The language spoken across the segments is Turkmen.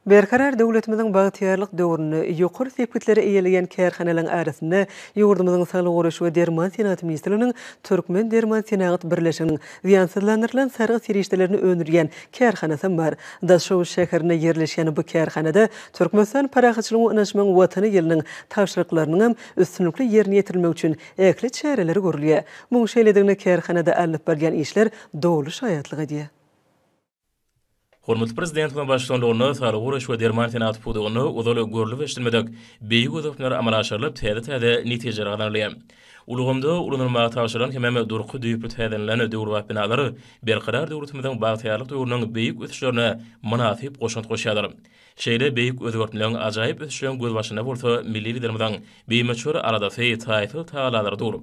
Berkarar döwletimiziň bagtyýarlyk döwründe ýokary sepgitleri eýeleýän kärhanalaryň arasynda ýurdumyzyň Saglygy goraýyş we derman senagaty ministrliginiň Türkmendermansenagat birleşiginiň zyýansyzlandyrylan sargyt serişdelerini öndürýän kärhanasam bar. Daşoguz şäherinde ýerleşýän bu kärhanada Türkmenistan parahatçylygyň we ynanyşmagyň Watany ýylynyň tabşyryklarynyňam üstünlikli ýerine ýetirilmegi üçin ähli çäreler görülýär. Munuň şeýledigine kärhanada alnyp barylýan işler doly şaýatlyk edýär. Hormatly Prezidentimiziň baştutanlygynda saglygy goraýyş we derman senagaty pudagynda ozal görlüp eşidilmedik beýik ösüşler amala aşyrylyp, täze-täze netijeler gazanylýar. Ulgamda ulanylmaga tabşyrylan hemem durky düýpli täzelinden döwrebap binalar Berkarar döwletimiziň bagtyýarlyk döwrüniň beýik ösüşlerine mynasyp goşant goşýarlar. Şeýle beýik özgertmeleň, ajaýyp ösüşiň gözbaşynda bolsa milli Liderimiziň bimöçber aladasy, taýsyz tagalary dur.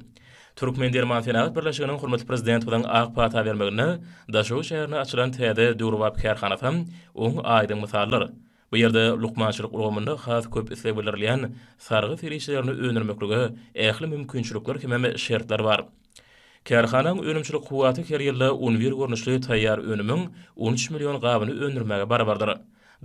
Türkmendermansenagat birleşiginiň hormatly Prezidentimiziň ak pata bermeginde Daşoguz şäherinde açylan täze döwrebap kärhanasam oň aýdyň mysaldyr. Bu ýerde lukmançylyk ulgamynda has köp isleg bildirilýän sargy serişdelerini öndürmeklige ähli mümkinçilikler hemem şertler bar. Kärhananyň önümçilik kuwwaty her ýylda un wir görnüşli taýýar önümiň on üç million gabyny öndürmäge barabardyr.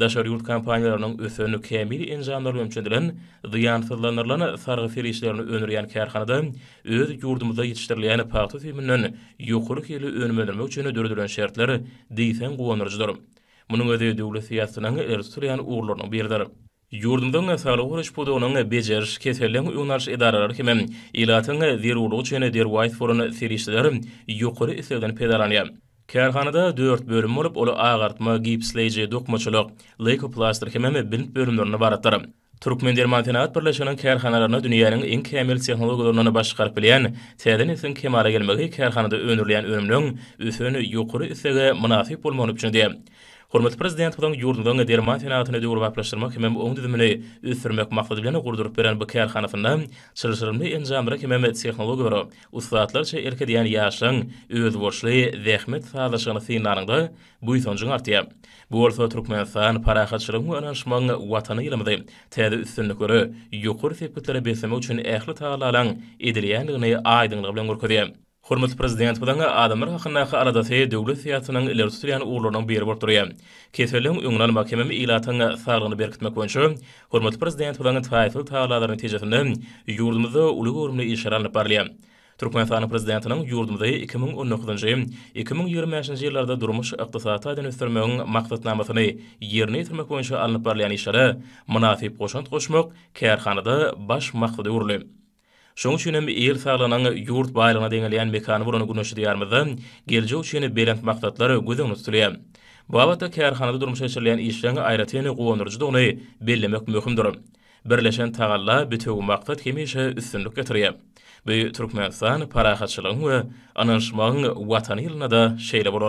Daşary ýurt kompaniýalarynyň ösen, kämil enjamlar bilen üçedilen, zyýansyzlandyrylan sargy serişdelerini öndürýän kärhanada öz ýurdumyzda ýetişdirilýän pagta süýüminden ýokary hilli önüm öndürmek üçin döredilen şertler diýseň guwandyryjydyr. Munuň özi döwlet syýasatynyň ileri tutulýan ugurlarynyň biridir. Ýurdumyzyň saglygy goraýyş pudagynyň bejeriş, keselden öňüni alyş edaralary hem ilatyň zerurlygy üçin derwaýys bolan serişdeler ýokary islegden peýdalanýar. Kärhanada dört bölüm bolup, ol agartma, gipsleýji, dokmaçylyk, leýkoplastyr hemem bint bölümlerinden ybaratdyr. Türkmendermansenagat birleşiginiň kärhanalaryna dünýäniň iň kämil tehnologiýalaryndan baş çykaryp bilýän täze nesliň kemala gelmegi kärhanada öndürilýän önümleň ösen ýokary islege mynasyp bolmagyny üpjün edýär. Hormatly Prezidentimiziň ýurdumyzyň derman senagatyny döwrebaplaşdyrmak hemem oň düzümini ösdürmek maksady bilen gurduryp beren bu kärhanasynda çylşyrymly enjamlara hemem tehnologiýalara ussatlarça erk edýän ýaşlaryň özboluşly zähmet sazlaşygyny synlanyňda buýsanjyň artýar. Bu bolsa Türkmenistan, parahatçylygyň we ynanyşmagyň Watany ýylymyzy täze üstünliklere, ýokary sepgitlere beslemek üçin ähli tagallalaryň edilýändigini aýdyňlygy bilen görkezýär. Hormatly Prezidentimiziň adamlar hakyndaky aladasy döwlet syýasatynyň ileri tutulýan ugurlarynyň biri bolup durýar. Keselleriň öňüni almak hemem ilatyň saglygyny berkitmek boýunça hormatly Prezidentimiziň taýsyz tagallalary netijesinde ýurdumyzda uly göwrümli işler alnyp barylýar. Türkmenistanyň Prezidentiniň ýurdumyzy iki müň on dokuzynjy, iki müň ýigrimi bäşinji ýyllarda durmuş-ykdysady taýdan ösdürmegiň maksatnamasyny ýerine ýetirmek boýunça alnyp barylýan işlere mynasyp goşant goşmak kärhanada baş maksada öwrüldi. Şoň üçin hem il saglygynyň ýurt baýlygyna deňelýän mekany bolan Güneşli Diýarymyzda geljek üçin belent maksatlar göz öňünde tutulýar. Bu babatda kärhanada durmuşa geçirilýän işleriň aýratyn guwandyryjydygyny bellemek möhümdir. Birleşen tagalla, bitewi maksat hemişe üstünlik getirýär. Bu Türkmenistan parahatçylygyň we ynanyşmagyň Watany ýylynda-da şeýle bolar.